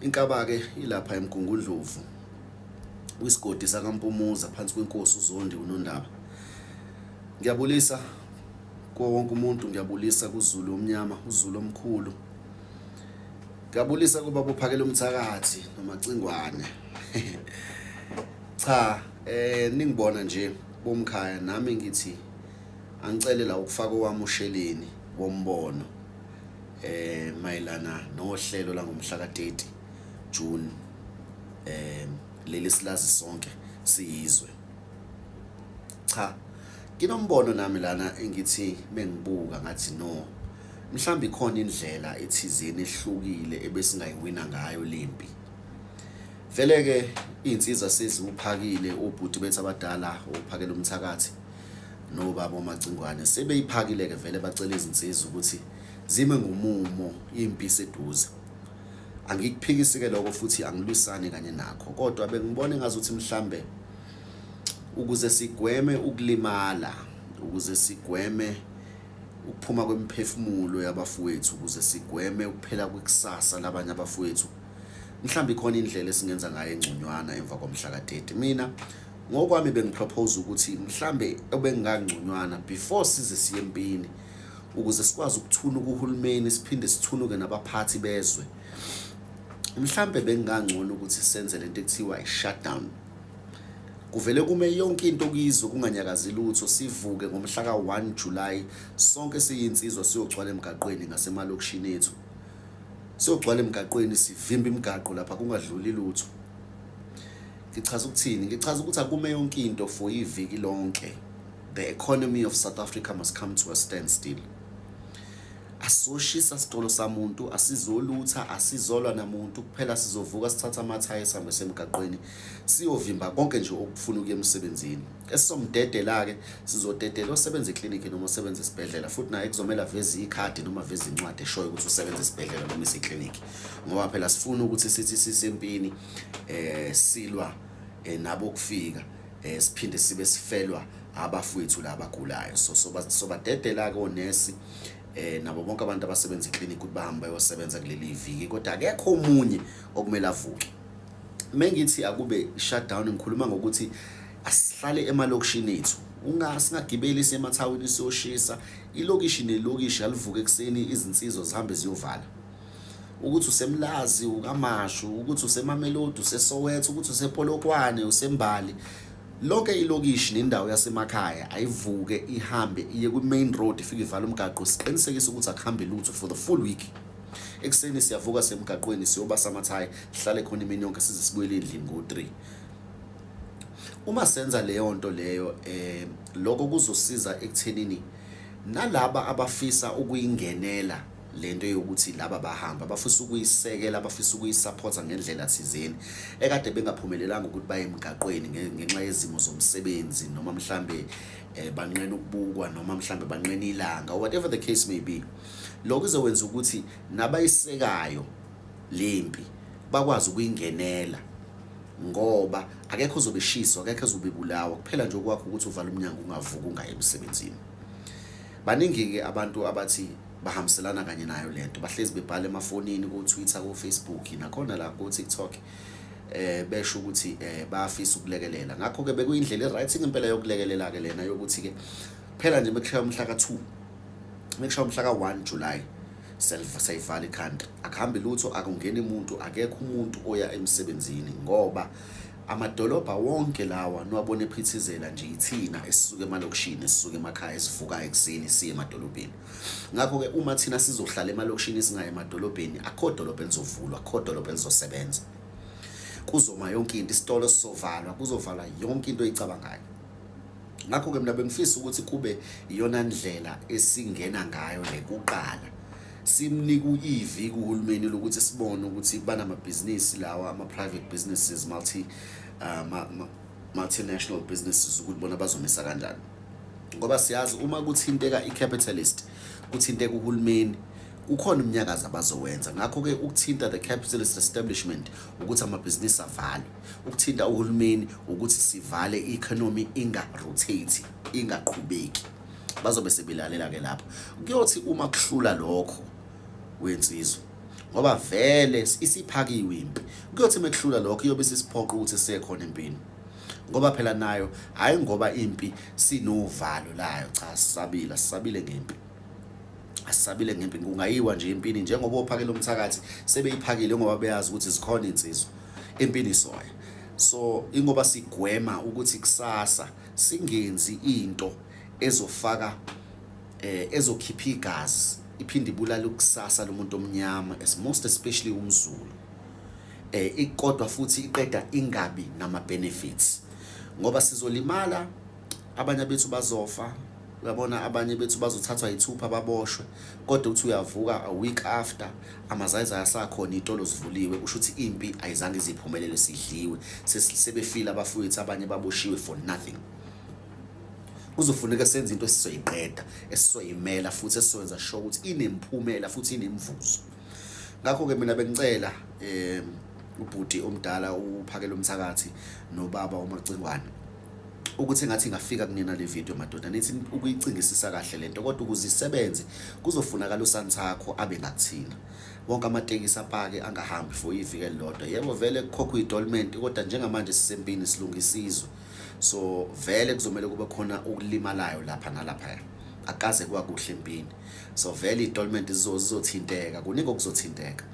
Inkaba-ke ilapha eMgungundlovu kwisigodi sakaMpumuza phansi kwenkosi uZondi uNondaba. Ngiyabulisa kuwo wonke umuntu, ngiyabulisa kuZulu omnyama, uZulu omkhulu. Ngiyabulisa kuba bophakela umthakathi nomacingwane. Cha, eh ningibona nje bomkhaya nami ngithi angicele la ukufaka owami usheleni wombono. eh mayelana nohlelo langomhla ka-30 June eh leli silazi sonke siyizwe cha nginombono nami lana engithi mengibuka ngathi no mhlawumbe ikhona indlela ethizeni ehlukile ebesingayiwina ngayo lempi vele ke izinsizwa seziwuphakile ubhuti bethu abadala ophakela umthakathi nobaba omacingwane sebeyiphakile ke vele bacela izinsizwa ukuthi zime ngomumo impi seduze angikuphikisi ke lokho futhi angilwisani kanye nakho kodwa bengibona engazuthi mhlambe ukuze sigweme ukulimala ukuze sigweme ukuphuma kwemiphefumulo yabafowethu ukuze sigweme ukuphela kwekusasa labanye abafowethu mhlawumbe ikhona indlela esingenza ngayo engconywana emva komhla ka-30 mina ngokwami bengipropose ukuthi mhlambe obengangconywana before size siye empini ukuze sikwazi ukuthunuka uhulumeni siphinde sithunuke nabaphathi bezwe mhlambe bekungangcono ukuthi senze lento ekuthiwa i-shutdown kuvele kume yonke into kuyizwe kunganyakazi lutho sivuke ngomhla ka-1 July sonke siyinsizwa siyogcwala emgaqweni ngasemalokishini ethu siyogcwala emgaqweni sivimba imigaqo lapha kungadluli lutho ngichaza ukuthini ngichaza ukuthi akume yonke into for iviki lonke the economy of South Africa must come to a standstill asoshisa sitolo samuntu asizolutha asizolwa namuntu kuphela sizovuka sithatha amathayi sambe semgaqweni siyovimba konke nje okufuna ukuya emsebenzini esizomdedela ke sizodedela osebenza eclinic noma osebenza esibhedlela futhi naye kuzomela veze ikhadi noma veze incwadi eshoyo ukuthi usebenza esibhedlela noma iseclinic ngoba phela sifuna ukuthi sithi sisempini eh silwa eh, nabo kufika eh siphinde sibe sifelwa abafowethu laba gulayo so soba sobadedela ke onesi eh nabo bonke abantu abasebenza eclinic ukuthi bahambe bayosebenza kuleli viki kodwa akekho omunye okumele avuke mengithi akube shutdown ngikhuluma ngokuthi asihlale emalokishini ethu ungasingagibeli semathawini siyoshisa ilokishi nelokishi alivuke ekuseni izinsizwa zihambe ziyovala ukuthi usemlazi ukamashu ukuthi usemamelodi usesoweto ukuthi usepolokwane usembali lonke ilokishi nendawo yasemakhaya ayivuke ihambe iye kwi-main road ifike ivala umgaqo siqinisekise ukuthi akuhambe lutho for the full week ekuseni siyavuka semgaqweni siyoba samathayi sihlale khona imini yonke size sibuyele endlini ngo-three uma senza leyo nto leyo um eh, lokho kuzosiza ekuthenini nalaba abafisa ukuyingenela le nto yokuthi laba bahamba bafisa ukuyisekela bafisa ukuyisapotha ngendlela thizeni ekade bengaphumelelanga ukuthi baye emgaqweni ngenxa yezimo zomsebenzi noma mhlambe eh, banqena ukubukwa noma mhlambe banqena ilanga whatever the case may be lokho izokwenza ukuthi nabayisekayo lempi bakwazi ukuyingenela ngoba akekho uzobeshiswa akekho uzobebulawa kuphela nje okwakho ukuthi uvala umnyango ungavuki ungaye emsebenzini baningi-ke abantu abathi bahambiselana kanye nayo lento bahlezi bebhala emafonini ku Twitter ku Facebook nakhona la ku TikTok eh besho ukuthi eh bayafisa ukulekelela ngakho ke bekuyindlela eright ngempela yokulekelela ke lena yokuthi ke phela nje mekushaya umhla ka2 mekushaya umhla ka1 July self sayivala ikhanda akuhambi lutho akungeni umuntu akekho umuntu oya emsebenzini ngoba Amadolobha wonke lawa niwabona ephithizela nje ithina esisuke emalokishini esisuke emakhaya esivukayo ekuseni siye emadolobheni ngakho-ke uma thina sizohlala emalokishini singaye emadolobheni akho dolobha elizovulwa akho dolobha elizosebenza kuzoma yonke into isitolo sizovalwa kuzovalwa yonke into oyicabangayo ngakho-ke mina bengifisa ukuthi kube iyona ndlela esingena ngayo le kuqala simnika uyivi kuhulumeni lokuthi sibone ukuthi banamabhizinisi lawa ama-private businesses multi uh, ma, ma, multinational businesses ukuthi bona bazomisa kanjani ngoba siyazi uma kuthinteka i-capitalist kuthinteka uhulumeni ukhona umnyakazo abazowenza ngakho-ke ukuthinta the capitalist establishment ukuthi amabhizinisi avale ukuthinta uhulumeni ukuthi sivale i-economy inga-rotate ingaqhubeki bazobe sebilalela ke lapho kuyothi uma kuhlula lokho wensizwa ngoba vele isiphakiwe impi kuyothi mekuhlula lokho iyobe sisiphoqa ukuthi sekhona empini ngoba phela nayo hayi ngoba impi sinovalo layo cha sisabile sisabile ngempi asisabile ngempi kungayiwa nje empini njengoba ophakela umthakathi sebeyiphakile ngoba beyazi ukuthi zikhona insizwa empini soya so ingoba sigwema ukuthi kusasa singenzi into ezofaka eh ezokhipha igazi iphinde ibulala ukusasa lomuntu omnyama as most especially umzulu eh ikodwa futhi iqeda ingabi nama benefits ngoba sizolimala abanye bethu bazofa uyabona abanye bethu bazothathwa yithupha baboshwe kodwa uthi uyavuka a week after amazayizayi asakhona iy'tolo zivuliwe kusho ukuthi impi ayizange iziphumelele sidliwe sebefile abafowethu abanye baboshiwe for nothing kuzofuneka senze into esizoyiqeda esizoyimela futhi esizoyenza sure ukuthi inemphumela futhi inemvuzo ngakho-ke mina bengicela um ubhuti omdala uphakela umthakathi nobaba umacingwane ukuthi ngathi ngafika kunina le video madoda nithi ukuyicingisisa kahle lento kodwa ukuze isebenze kuzofunakala usansakho abe ngakuthina wonke amatekisi apake angahambi for ivike lodwa yebo vele kukhokha idolment kodwa njengamanje sisempini silungisizwe so vele kuzomela kube khona ukulimalayo lapha nalapha akaze kwakuhle empini so vele idolment zizothinteka kuningi okuzothinteka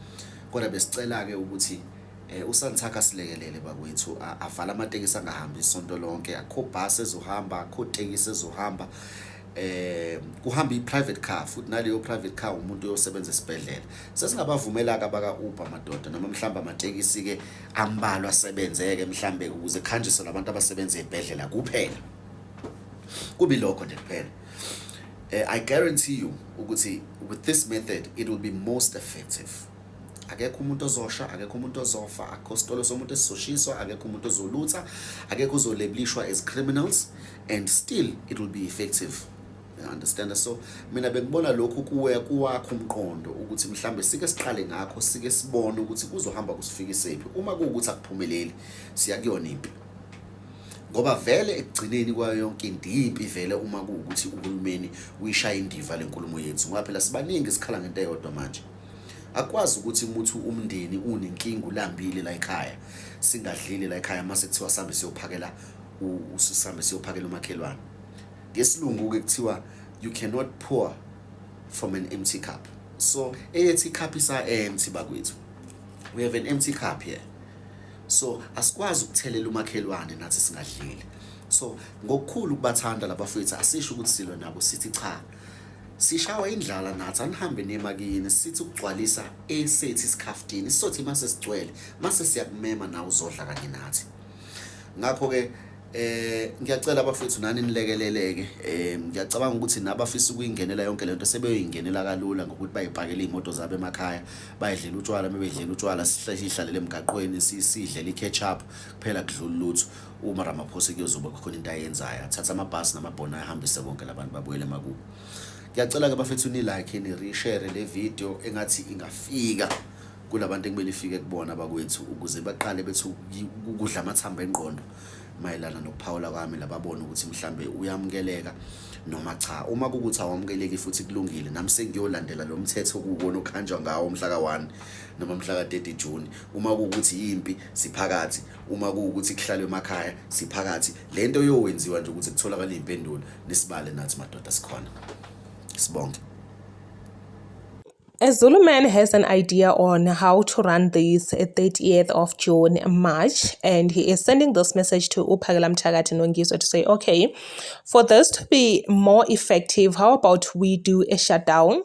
kodwa besicela ke ukuthi Eh uSanthaka silekelele bakwethu avala amatekisi angahambi isonto lonke akho bus ezohamba akho tekisi ezohamba eh kuhamba i-private car futhi naleyo private car umuntu uyosebenza esibhedlela sesingabavumela ke abaka Uber madoda noma mhlamba amatekisi ke ambalwa asebenzeke mhlambe ukuze khanjiswe labantu abasebenza ezibhedlela kuphela kubi lokho nje kuphela eh, i guarantee you ukuthi with this method it will be most effective akekho umuntu ozosha akekho umuntu ozofa akho sitolo somuntu esizoshiswa akekho umuntu ozolutha akekho uzolebulishwa as criminals and still it will be effective understand so mina bengibona lokhu kuwe kuwakho umqondo ukuthi mhlambe sike siqale ngakho sike sibone ukuthi kuzohamba kusifikisephi uma kuwukuthi akuphumeleli siya kuyona impi ngoba vele ekugcineni kwayo yonke into yimpi vele uma kuwukuthi uhulumeni uyishaya indiva lenkulumo yethu ngoba phela sibaningi sikhala ngento eyodwa manje akwazi ukuthi umuthi umndeni unenkinga ulambile la ekhaya singadlile la ekhaya mase kuthiwa sambe siyophakela usisambe siyophakela umakhelwane ngesilungu ke kuthiwa you cannot pour from an empty cup so eyethi cup isa empty bakwethu we have an empty cup here so asikwazi ukuthelela umakhelwane nathi singadlile so ngokukhulu kubathanda labafowethu asisho ukuthi silwe nabo sithi cha sishawa indlala nathi anihambe nemakini sithi ukugcwalisa esethi isikhaftini sizothi uma sesigcwele mase siyakumema nawe uzodla kanye nathi ngakho-ke eh ngiyacela abafethu nani nilekeleleke eh ngiyacabanga ukuthi nabafisa ukuyingenela yonke lento sebeyoyingenela kalula ngokuthi bayipakele imoto zabo emakhaya bayidlela utshwala mebedlela utshwala sihlalele emgaqweni sidlela iketchup kuphela kudlula lutho uma Ramaphosa kuyozoba khona into ayenzayo athatha amabhasi namabhona ahambise bonke labantu babuyele emakubo ngiyacela ke bafethu ni like ni reshare le video engathi ingafika kulabantu ekumele ifike kubona bakwethu ukuze baqale bethi ukudla amathamba engqondo mayelana nokuphawula kwami lababona ukuthi mhlambe uyamukeleka noma cha uma kukuthi awamukeleki futhi kulungile nami sengiyolandela lo mthetho kuwona okhanjwa ngawo umhla ka-1 noma mhla ka-30 June uma kukuthi yimpi siphakathi uma kuwukuthi kuhlalwe emakhaya siphakathi le nto yowenziwa nje ukuthi kutholakale iy'mpendulo nisibale nathi madoda sikhona sibonge A Zulu man has an idea on how to run this 30th of June, March, and he is sending this message to Upagala Mthakathi Nongiso to say, okay, for this to be more effective, how about we do a shutdown?